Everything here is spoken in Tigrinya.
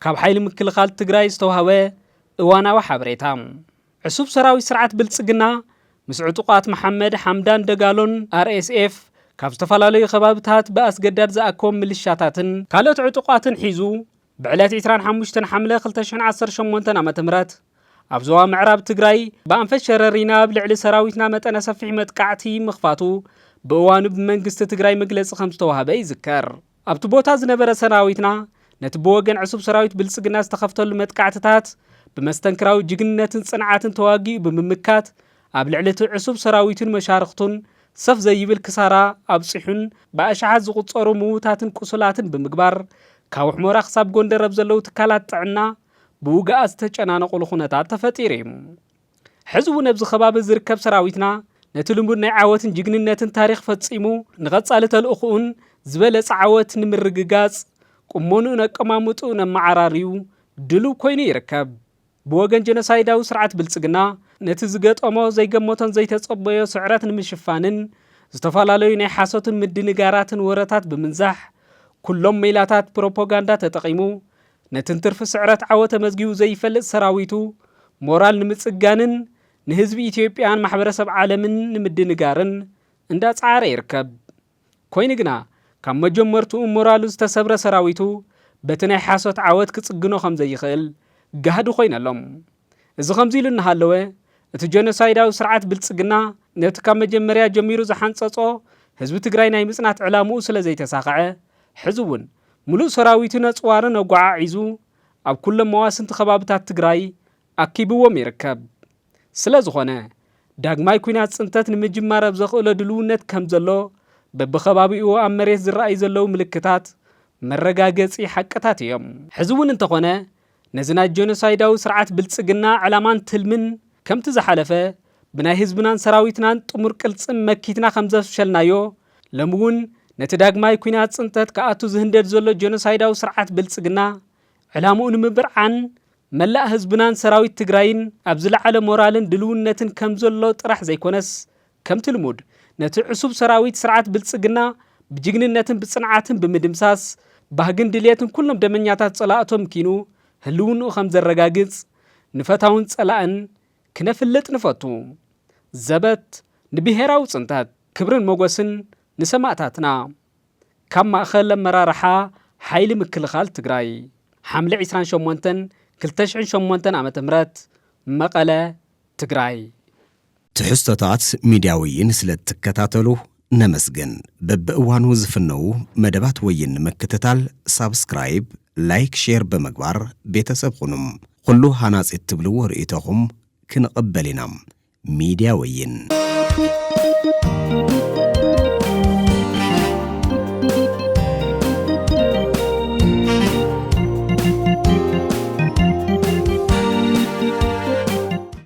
ካብ ሓይሊ ምክልኻል ትግራይ ዝተዋህበ እዋናዊ ሓበሬታ ዕሱብ ሰራዊት ስርዓት ብልፅግና ምስ ዕጡቋት መሓመድ ሓምዳን ደጋሎን ኣርኤስኤፍ ካብ ዝተፈላለዩ ከባብታት ብኣስገዳድ ዝኣኮም ምልሻታትን ካልኦት ዕጡቋትን ሒዙ ብዕለት ዕስራን ሓሙሽተን ሓምለ ክልተ ሽሕን ዓሰርተ ሸሞንተን ዓመተ ምህረት ኣብ ዞባ ምዕራብ ትግራይ ብኣንፈት ሸረሪና ኣብ ልዕሊ ሰራዊትና መጠነ ሰፊሕ መጥቃዕቲ ምኽፋቱ ብእዋኑ ብመንግስቲ ትግራይ መግለፂ ከም ዝተዋህበ ይዝከር። ኣብቲ ቦታ ዝነበረ ሰራዊትና ነቲ ብወገን ዕሱብ ሰራዊት ብልፅግና ዝተኸፍተሉ መጥቃዕትታት ብመስተንክራዊ ጅግንነትን ፅንዓትን ተዋጊኡ ብምምካት ኣብ ልዕሊ እቲ ዕሱብ ሰራዊቱን መሻርኽቱን ሰፍ ዘይብል ክሳራ ኣብጺሑን ብኣሽሓት ዝቑጸሩ ምዉታትን ቁሱላትን ብምግባር ካውሕሞራ ክሳብ ጎንደር ኣብ ዘለዉ ትካላት ጥዕና ብውግኣት ዝተጨናነቑሉ ኩነታት ተፈጢሩ እዩ። ሕዚ እውን ኣብዚ ከባቢ ዝርከብ ሰራዊትና ነቲ ልሙድ ናይ ዓወትን ጅግንነትን ታሪኽ ፈጺሙ ንቐጻሊ ተልእኹኡን ዝበለጸ ዓወት ንምርግጋጽ ቁመንኡን ኣቀማምጥኡን ኣመዓራርዩ ድሉው ኮይኑ ይርከብ። ብወገን ጀኖሳይዳዊ ስርዓት ብልጽግና፣ ነቲ ዝገጠሞ ዘይገመቶን ዘይተጸበዮ ስዕረት ንምሽፋንን፣ ዝተፈላለዩ ናይ ሓሶትን ምድንጋራትን ወረታት ብምንዛሕ፣ ኩሎም ሜላታት ፕሮፖጋንዳ ተጠቒሙ፣ ነቲ እንትርፊ ስዕረት ዓወት ተመዝጊቡ ዘይፈልጥ ሰራዊቱ ሞራል ንምጽጋንን፣ ንህዝቢ ኢትዮጵያን ማሕበረሰብ ዓለምን ንምድንጋርን እንዳጸዓረ ይርከብ። ኮይኑ ግና ካብ መጀመርትኡ ሞራሉ ዝተሰብረ ሰራዊቱ በቲ ናይ ሓሶት ዓወት ክጽግኖ ከም ዘይኽእል ጋህዲ ኮይኑ ኣሎ። እዚ ከምዚ ኢሉ እናሃለወ እቲ ጀኖሳይዳዊ ስርዓት ብልጽግና ነቲ ካብ መጀመርያ ጀሚሩ ዝሓንጸጾ ህዝቢ ትግራይ ናይ ምጽናት ዕላምኡ ስለ ዘይተሳኸዐ ሕዚ እውን ምሉእ ሰራዊቱ ነጽዋርን ኣጓዓዒዙ ኣብ ኩሎም መዋስንቲ ከባብታት ትግራይ ኣኪብዎም ይርከብ። ስለዝኾነ፣ ዳግማይ ኲናት ፅንተት ንምጅማር ኣብ ዘኽእሎ ድልውነት ከምዘሎ በብኸባቢኡ ኣብ መሬት ዝረኣዩ ዘለዉ ምልክታት መረጋገፂ ሓቅታት እዮም። ሕዚ እውን እንተኾነ ነዚ ናይ ጀኖሳይዳዊ ስርዓት ብልፅግና ዕላማን ትልምን ከምቲ ዝሓለፈ ብናይ ህዝብናን ሰራዊትናን ጥሙር ቅልፅም መኪትና ከምዘፍሸልናዮ ሎሚ እውን ነቲ ዳግማይ ኲናት ፅንተት ክኣቱ ዝህንደድ ዘሎ ጀኖሳይዳዊ ስርዓት ብልፅግና ዕላምኡ ንምብርዓን መላእ ህዝብናን ሰራዊት ትግራይን ኣብ ዝለዓለ ሞራልን ድልውነትን ከምዘሎ ጥራሕ ዘይኮነስ ከምቲ ልሙድ ነቲ ዕሱብ ሰራዊት ስርዓት ብልፅግና ብጅግንነትን ብፅንዓትን ብምድምሳስ ባህግን ድልየትን ኩሎም ደመኛታት ፀላእቱ ኣምኪኑ ህልውንኡ ከምዘረጋግፅ ንፈታውን ፀላእን ክነፍልጥ ንፈቱ። ዘበት ንብሄራዊ ፅንተት! ክብርን ሞጎስን ንሰማእታትና! ካብ ማእኸል ኣመራርሓ ሓይሊ ምክልኻል ትግራይ ሓምለ ዒስራን ሸሞንተን ክልተ ሽሕን ሸሞንተን ዓመተ ምህረት መቐለ፣ ትግራይ። ትሕዝቶታት ሚድያ ወይን ስለ እትከታተሉ ነመስግን። በብእዋኑ ዝፍነዉ መደባት ወይን ንምክትታል ሳብስክራይብ፣ ላይክ፣ ሼር ብምግባር ቤተሰብ ኹኑ። ኹሉ ሃናፂ እትብልዎ ርኢቶኹም ክንቕበል ኢና። ሚድያ ወይን።